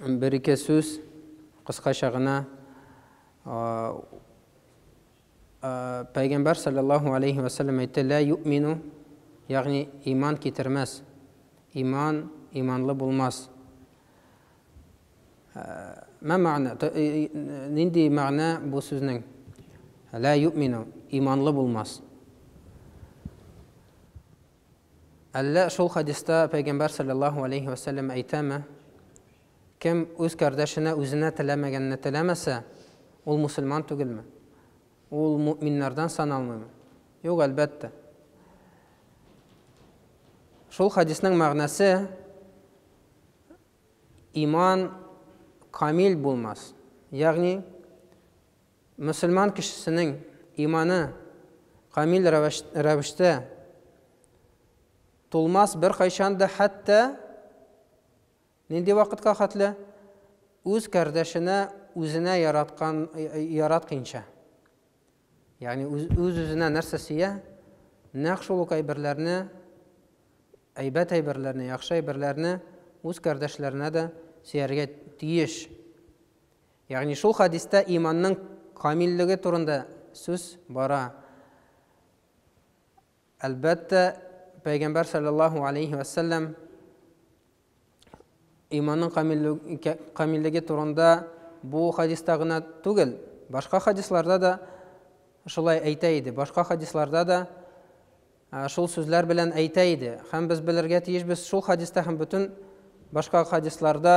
Бер-ике сүз кыскача гына Пәйгамбәр саллаллаһу алейхи ва саллям әйтте, "Ла юмину", ягъни иман китермәс. Иман иманлы булмас. Ма мәгънә? Нинди мәгънә бу сүзнең? Ла юмину, иманлы булмас. Әллә шул хәдиста Пәйгамбәр салләллаһу галәйһи вә сәлләм әйтәме, Кем үз кардәшенә үзенә теләмәгәнне теләмәсә, ул мусульман түгелме? Ул мөэминнәрдән саналмыймы? Юк, әлбәттә. Шул хәдиснең мәгънәсе иман камил булмас. Ягъни Мөселман кешесенең иманы камил рәвештә тулмас беркайчан да хәтта нинди вакытка хәтле? Үз кардәшенә үзенә яраткан, яратканча. Ягъни үз-үзенә нәрсә сөя, нәкъ шул ук әйберләрне, әйбәт әйберләрне, яхшы әйберләрне үз кардәшләренә дә сөяргә тиеш. Ягъни шул хәдистә иманның камиллеге турында сүз бара. Әлбәттә, Пәйгамбәр саллаллаһу алейһи вә сәлләм иманның камиллеге турында бу хәдистә генә түгел, башка хәдисларда да шулай әйтә иде. Башка хәдисларда да шул сүзләр белән әйтә иде. Һәм без белергә тиешбез шул хәдистә һәм бөтен башка хәдисларда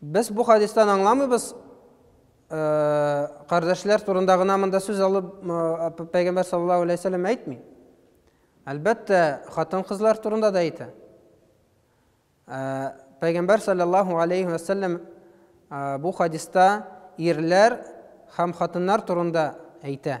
Без бу хадистан аңламыйбыз, кардәшләр турында гына монда сүз алып пәйгамбәр саллаллаһу алейһи вәсәлләм әйтми. Әлбәттә, хатын-кызлар турында да әйтә. Пәйгамбәр саллаллаһу алейһи вәсәлләм бу хадиста ирләр һәм хатыннар турында әйтә.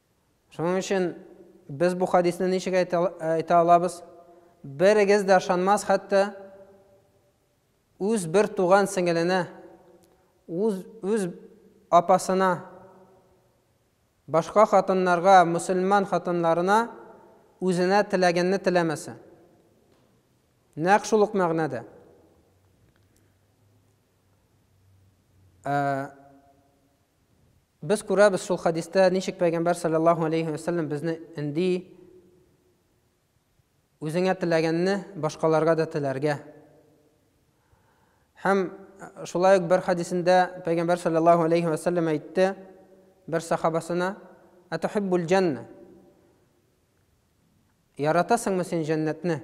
Шуның өчен без бу хадисны ничек әйтә алабыз? Берегез дә ышанмас хәтта үз бер туган сеңеленә, үз, үз апасына, башка хатыннарга, мөселман хатыннарына үзенә теләгәнне теләмәсә. Нәкъ шул ук мәгънәдә. Ә, Без күрәбез шул хәдистә, ничек пәйгамбәр саллаллаһу алейһи вә сәлләм безне өнди, үзеңә теләгәнне башкаларга да теләргә. Һәм шулай ук бер хәдисендә пәйгамбәр саллаллаһу алейһи вә сәлләм әйтте бер сахабасына, "Атухиббул җанна?" Яратасыңмы син җәннәтне?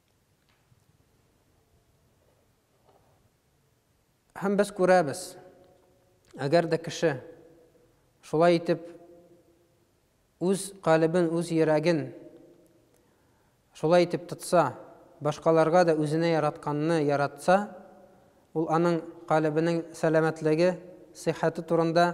Һәм без күрәбез, әгәр дә кеше шулай итеп үз калебен, үз йөрәген шулай итеп тотса, башкаларга да үзенә яратканны яратса, ул аның калебенең сәламәтлеге, сихәте турында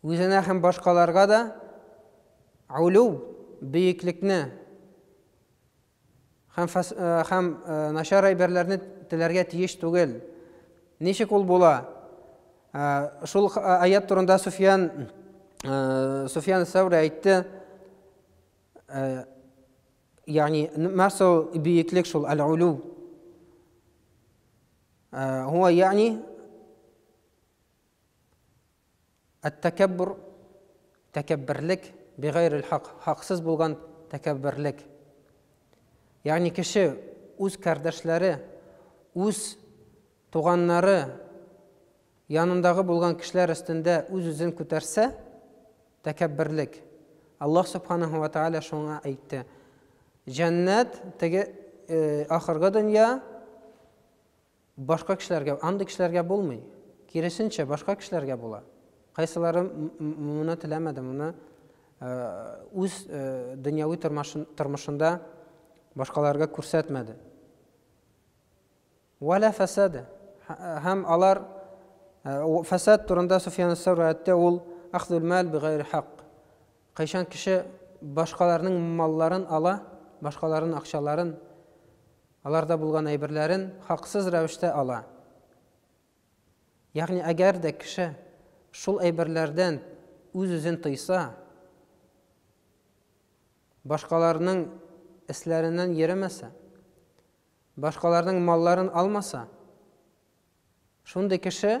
Үзенә һәм башкаларга да Олуг, бөеклекне, һәм һәм начар әйберләрне теләргә тиеш түгел. Ничек ул була? Шул аят турында Суфьян Суфьян Сәүри әйтте. Ягъни, мәсәл, бөеклек шул, әл-улу. Һуа, ягъни, Әт-тәкәббүр, тәкәбберлек, бигайрел хак, хаксыз булган тәкәбберлек. Ягъни кеше үз кардәшләре, үз туганнары, янындагы булган кешеләр өстендә үз-үзен күтәрсә, тәкәбберлек. Аллаһ Субханаһу ва Тааля шуңа әйтте. Җәннәт теге э, ахыргы дөнья Башка кешеләргә, андый кешеләргә булмый. Киресенчә, башка кешеләргә була. Кайсылары моны теләмәде, моны үз дөньяви тормышында башкаларга күрсәтмәде. Вәлә фәсәде. Һәм алар фәсәд турында Суфиян Сәүр әйтте, ул ахзул мал бигайр хак. Кайчан кеше башкаларның малларын ала, башкаларның акчаларын Аларда булган әйберләрен хаксыз рәвештә ала. Ягъни әгәр дә кеше шул әйберләрдән үз-үзен тыйса, башкаларның эсләреннән йөремәсә, башкаларның малларын алмаса, шундый кеше